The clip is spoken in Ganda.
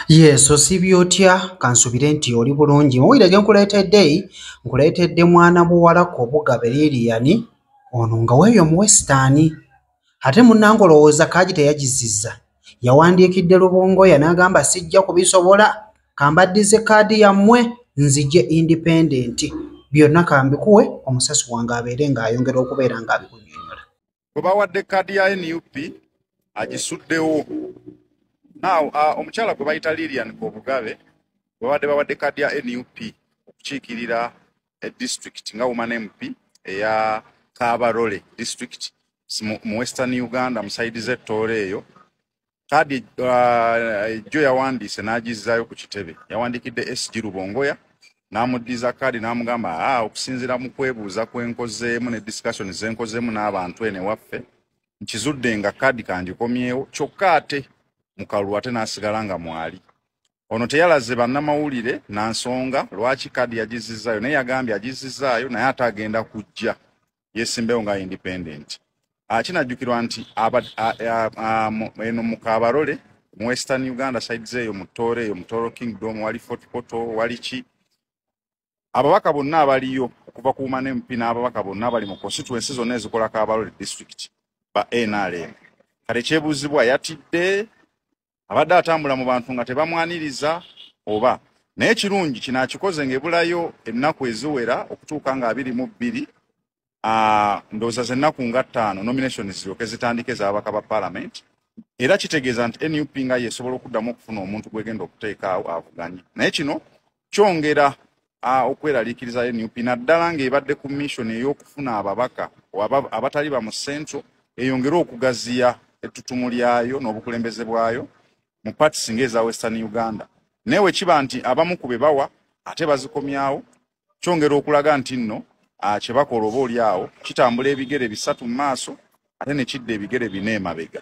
Yes, osiibye otya kansubire nti oli bulungi muwulire gye nkuleetedde nkuleetedde mwana muwala kobuga beririyani ono nga weeyo muwesitaani ate munnanga olowooza kaagi teyagizizza yawandiikidde lubongoya n'agamba sijja kubisobola kambaddize kaadi yammwe nzije indipendenti byonna kambikuwe omusasi wange abeere ng'ayongera okubeera ng'abikunyonyola gwe bawadde kaadi ya nup agisuddewo naaw uh, omukyala gwe bayita lilian kobugabe gwebabadde bawadde kaadi ya nup okukiikirira edisitulikiti nga woman mp eya kabarole disitulikiti mu western uganda musaidi zetooro eyo kaadi ejjo uh, yawandiise n'agizzaayo ku kitebe yawandiikidde sg lubongoya n'amuddiza kaadi n'amugamba a ah, okusinziira mu kwebuuza kwenkozeemu ne discussion zenkozeemu n'abantu eno ewaffe nkizudde nga kaadi kangikomyewo kyokka ate mukalulu ate n'asigala nga mwali ono teyalaze bannamawulire na nsonga lwaki kaadi yagizizzaayo naye yagambye agizizzaayo naye ate agenda kujja yesimbewo nga independent ah, kinajjukirwa nti eno mukabarole mu western uganda side zeeyo mutooro eyo mutooro kingdom wali fort poto wali ki ababaka bonna abaliyo okuva ku wumane mp n'ababaka bonna abali mu constituency zonna ezikola kabarole district ba nrm kale kyebuuzibwa yatidde abadde atambula mu bantu nga tebamwaniriza oba naye kirungi kino akikoze ngaebulayo ennaku eziwera okutuuka nga abiri mu bbiri ndowooza zennaku nga ttaano nomination ziryoke zitandike ezababaka ba parliament era kitegeeza nti nup nga yesobola okuddamu okufuna omuntu gwegenda okuteekaawo avuganye naye kino kyongera okweraliikiriza nup naddala ng'ebadde ku mission ey'okufuna ababaka abatali ba mu central eyongere okugaziya ettutumu lyayo n'obukulembeze bwayo mu partis ng'eza western uganda naye wekiba nti abamu ku be bawa ate bazikomyawo kyongera okulaga nti nno kye bakola oba oli awo kitambula ebigere bisatu mu maaso ate ne kidda ebigere bina emabega